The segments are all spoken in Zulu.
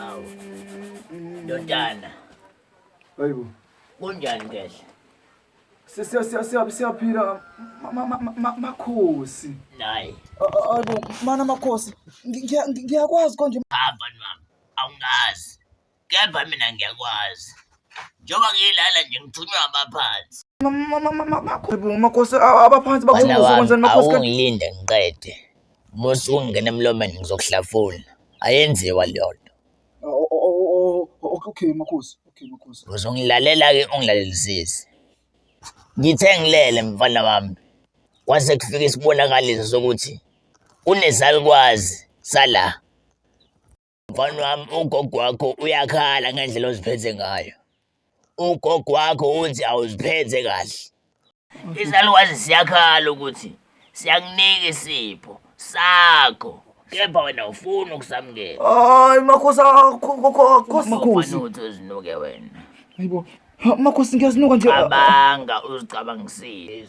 Awu. Ndodana. Hayibo. Kunjani ngehla? Sisiya siya siya siyaphila makhosi. Nayi. Hayibo, mana makhosi. Ngiyakwazi konje. Hamba nami. Awungazi. kepha mina ngiyakwazi njengoba ngiyilala nje ngithunywa abaphansi makhosi abaphansi bakuzokwenzani makhosi awungilinde ngiqede musa ungena emlomeni ngizokuhlafuna ayenziwa leyo nto okay makhosi okay makhosi uzongilalela-ke ungilalelisisi ngithe ngilele mfana wami kwase kufika isibonakaliso sokuthi unezalukwazi sala Mfana wami ugogo wakho uyakhala ngendlela oziphethe ngayo. Ugogo wakho uthi awuziphethe kahle. Izalukazi siyakhala ukuthi siyakunika isipho sakho kepha wena ufuna ukusamukela. Hayi makhosi akho makhosi. Makhosi. Ufuna ukuthi uzinuke wena. Hayibo. Ha, Makhosi ngiyazinuka nje. Cabanga uzicabangisise.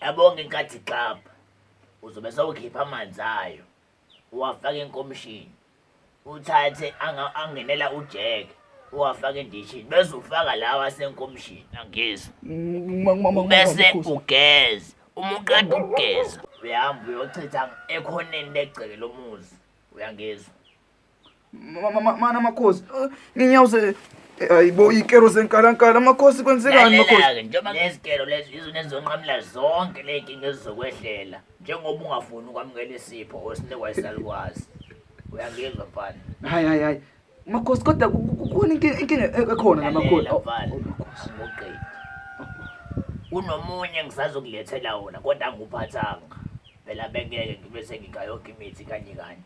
Yabonga inkathi xabha uzobe sewukhipha amanzi ayo uwafake enkomishini uthathe anga- angenela ujeke uwafake endishini bese ufaka lawa asenkomishini angizwa bese ugeze uma uqeda ukugeza uyahamba uyochitha ekhoneni legceke lomuzi uyangizwa Mana makhosi, nginyawuze ayibo ikero zenkalankala makhosi kwenzekani makhosi? Lalela-ke njengoba ngezikelo lezi izona ezizonqamula zonke le nkinga ezizokwehlela njengoba ungafuni ukwamukela isipho osinikwa isalukwazi uyangizwa mfana Hayi hayi hayi. Makhosi kodwa ku- ku- kukhona inki- inkinga e- ekhona la makhosi. Lalela, Oh, mfana oh, makhosi. angiwuqedi kunomunye engisazokulethela wona kodwa anguphathanga phela bengeke ngibe sengikha yonke imithi kanye kanye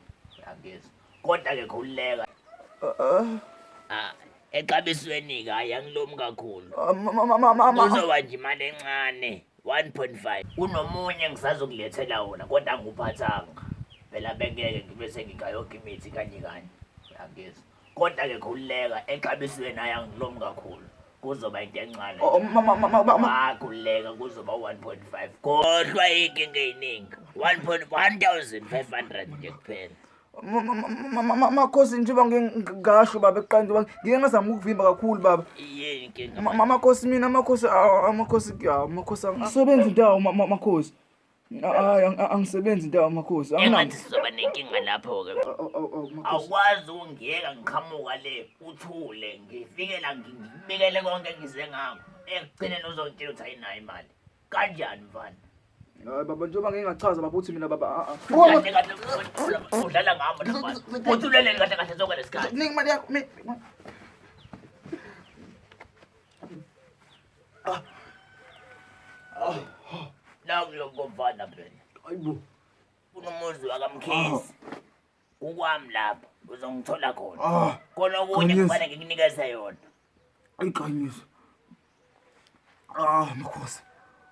angezi kodwa-ke khululeka Ah, exabisweni-ke hhayi angilomi kakhulu uzoba nje imali encane 1.5 kunomunye engisazokulethela wona kodwa anguphathanga phela bengeke ngibe sengikha yonke imithi kanye kanye angezi Kodwa ke khululeka exabisweni ayangilom kakhulu. Kuzoba into encane. Oh, mama mama mama. Wakhululeka kuzoba 1.5. Kodwa inkinga eyiningi. 1.1500 nje kuphela. makhosi njengoba ngingasho baba ekuqala njengoba ngike ngazama ukuvimba kakhulu baba yini inkinga makhosi mina makhosi amakhosi amakhosi angisebenzi ndawo makhosi Hayi, ang- ang- angisebenzi ndawo makhosi. Engathi Anginamali. sizoba nenkinga lapho-ke. Aw, aw, aw, aw, makhosi. Awukwazi ukungiyeka ngiqhamuka le, uthule, ngifike la ngi- ngikubikele konke engize ngako. Ekugcineni uzongitshela ukuthi ayinayo imali. Kanjani mfana? Hayi baba njengoba ngeke ngachaza baba uthi mina baba a a. Kahle kahle udlala- udlala ngami lo mfana. Uthuleleni kahle kahle sonke lesikhathi. Nika imali yakho. mi- Nakulokovana phela. Ayibo. Kunomuzi wakamkhisi. Kukwami lapho uzongithola khona. Ah. Khona okunye kufanele ngikunikeze yona. Ayiqanyisa. Ah, makhosi.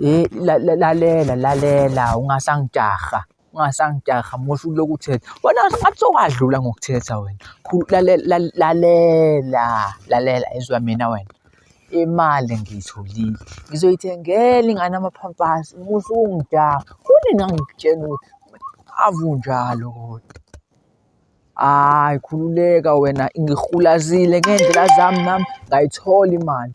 Hheyi lalela lalela ungasangijaha ungasangijaha musa ukulokhu uthetha wena ngathi sowakudlula ngokuthetha wena lalela lalela izwa mina wena imali ngiyitholile ngizoyithengela ingane ama-pampers musa ukungijaha kunini ngangikutshena ukuthi ave unjalo kodwa. Hayi khululeka wena ngihulazile ngey'ndlela zami nami ngayithola imali,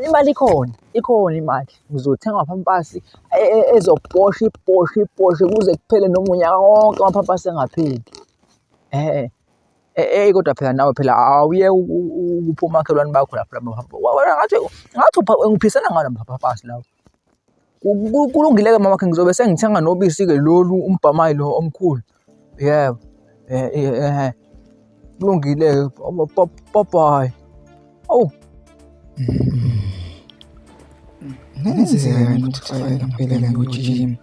imali ikhona ikhona imali ngizothenga amapampasi ezoposha iposhe iposhe kuze kuphele noma unyaka wonke amapampasi engapheli. Eyi kodwa phela nawe phela awuyeke ukupha omakhelwane bakho lapho ngathi ngathi ngiphisana ngani amapampasi lawa. Kulungile-ke mama wakhe ngizobe sengithenga nobisi-ke lolu umbhamayi lo omkhulu yebo kulungile-ke babayi awu kungenzeka ukuthi kufanele ngibhekele ngojijima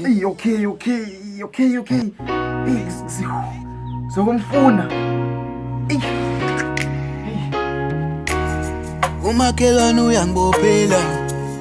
Hey, okay, okay, okay, okay. Hey, sizokumfuna. Hey. Umakhelwane uyangibophela